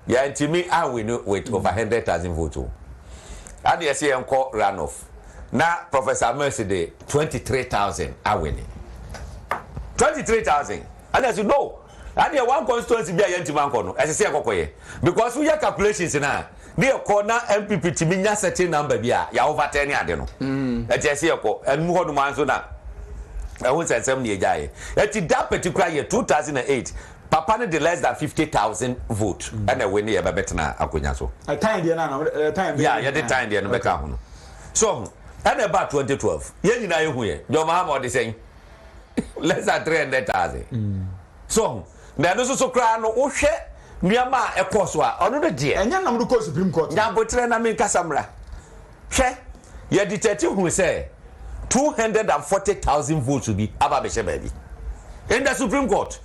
yɛantumi anwini with over hundred thousand vote o. Ɛna yɛsɛ yɛnkɔ run off na Professor Mercy de twenty three thousand awini. Twenty three thousand. Ɛna yɛsɛ no. Ɛna one constituency bi a yɛntumi ankɔ no ɛsɛ sɛ yɛkɔkɔyɛ because woyɛ calculations na ne yɛkɔ na NPP tumi nya certain number bi a yɛ overturn ne ade no. Ɛti ɛsɛ yɛkɔ ɛnum hɔ nom ara nso na ɛho nsɛnsɛm ne yɛgyaeɛ. Ɛti that particular year two thousand and eight Papa no de less than fifty thousand vote ɛna ɛwini yɛ bɛ bɛtena akonya so. Ɛtan deɛ no ana wɔde ɛɛ tan deɛ. Yeah yɛde tan deɛ no bɛ ka ho no so ɔho ɛna ɛba twenty twelve yɛn nyinaa yɛ hu yɛ John Mahama ɔde sɛn less than three hundred thousand so ɔho na ɛno soso koraa no wohwɛ nneɛma a ɛkɔɔ so a ɔno no deɛ. Ɛnyɛ nam do kɔɔ supreme court. Nya aboterɛ na me nkasa mmra. Hwɛ, yɛ detɛɛte hunu sɛ two hundred and forty thousand votes bi aba abɛhyɛ baabi in the Supreme Court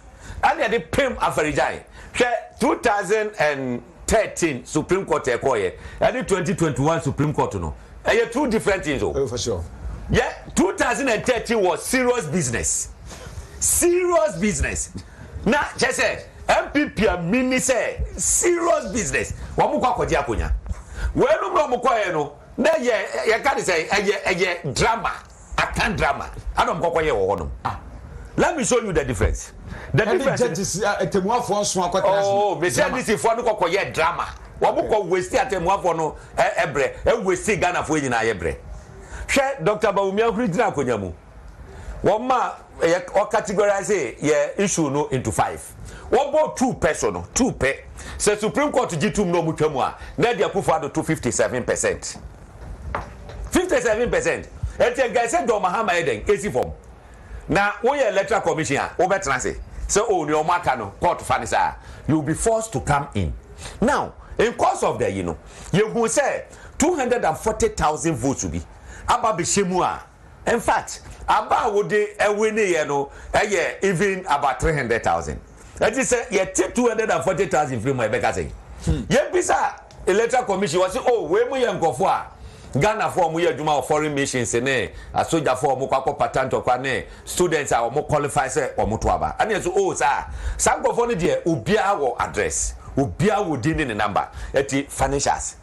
ɛna yɛde pem Afari-Gyan. Hwɛ two thousand and thirteen Supreme Court a ɛkɔɔeɛ ɛne twenty twenty one Supreme Court no ɛyɛ two different things o. Oh, for sure. Yɛ two thousand and thirteen wɔ serious business serious business na kyɛ sɛ NPP a mini sɛ serious business wɔn kɔ akɔgye akonya wei nom na wɔn kɔɛ no na yɛ yɛka ne sɛ ɛyɛ ɛyɛ drama akan drama ana wɔn kɔkɔ yɛ wɔ hɔ nom ah let me show you the difference the difference ɛni judges atemuafoɔ nso akɔtena ase oh mesi adisifoɔ no kɔkɔ yɛ drama wɔn kɔ westi atemuafoɔ no ɛbrɛ ɛwesti ghanafoɔ nyinaa yɛ brɛ hwɛ dr bawumia huri gyina akonya mu. wɔma yɛ wɔ categorize yɛ issue no into five wɔbɔ two pɛ so no two pɛ sɛ supreme court gye tum na wɔn twa mu a na ɛde akufo ado to fifty seven percent fifty seven percent ɛti nka ɛsɛ john mahama yɛ dɛn esi fam na woyɛ electoral commission a wobɛtena ase sɛ o oh, nea wɔn aka no court fa ne saa you will be forced to come in now in course of the yi no yɛhu sɛ two hundred and forty thousand votes bi aba bɛhyɛ mu a. In fact, aba a wode wineeɛ no yɛ even about three hundred thousand. Ɛti sɛ yɛte two hundred and forty thousand firi mu a yɛbɛka sɛn? Hmm. Yɛbisa Electoral Commission wɔ se o oh, wei mu yɛ nkurɔfoɔ a Ghanafoɔ a wɔyɛ adwuma wɔ foreign missions ne asogyafoɔ a wɔkɔ akɔ pata ntɔkwa ne students a wɔn qualify sɛ wɔn to aba. Ɛne ɛso o oh, saa saa nkurɔfoɔ no deɛ obiara wɔ address obiara wɔ din ne ne number ɛti financials.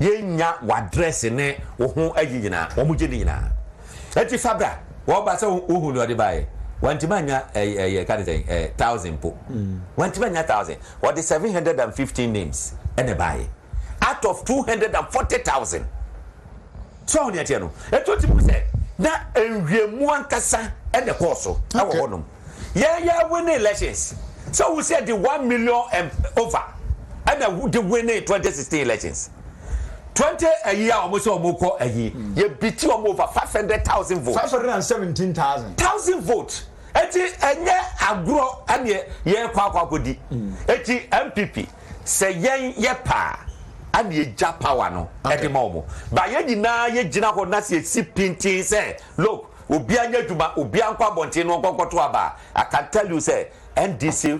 Yɛnnya w'adrɛse ne wo ho ayi nyinaa. Wɔgye ne nyinaa. Enti fa bra. Wɔba sɛ wohu nea ɔde baeɛ. Wantumi annya ɛɛ yɛka no sɛn ɛɛ thousand mpo. Wantumi annya thousand. Ɔde seven hundred and fifteen names na ɛbaeɛ out of two hundred and forty thousand. So woahu nea ɛteɛ no? Enti wotumi hu sɛ na nhwehwɛmu ankasa na ɛkɔɔ so wɔ hɔnom. yɛ yɛ win elections sɛ wo sɛ de one million and over ɛna de win twenty sixteen elections twenty ayi a wɔn sɛ wɔn kɔ ayi hmm. yɛ bi ti wɔn over five hundred thousand votes. five hundred and seventeen thousand. thousand votes eti ɛnyɛ agorɔ ɛna yɛ kɔ akɔ akɔ di hmm. eti npp sɛ yɛn yɛ paa ɛna yɛ gya power no ɛde ma wɔn ba yɛn nyinaa yɛ gyina hɔ na sɛ yɛ si pintin sɛ look. Obiara nyɛ adwuma, obiara nkɔ abɔnten na ɔnkɔ nkɔto aba. I can tell you sɛ NDC.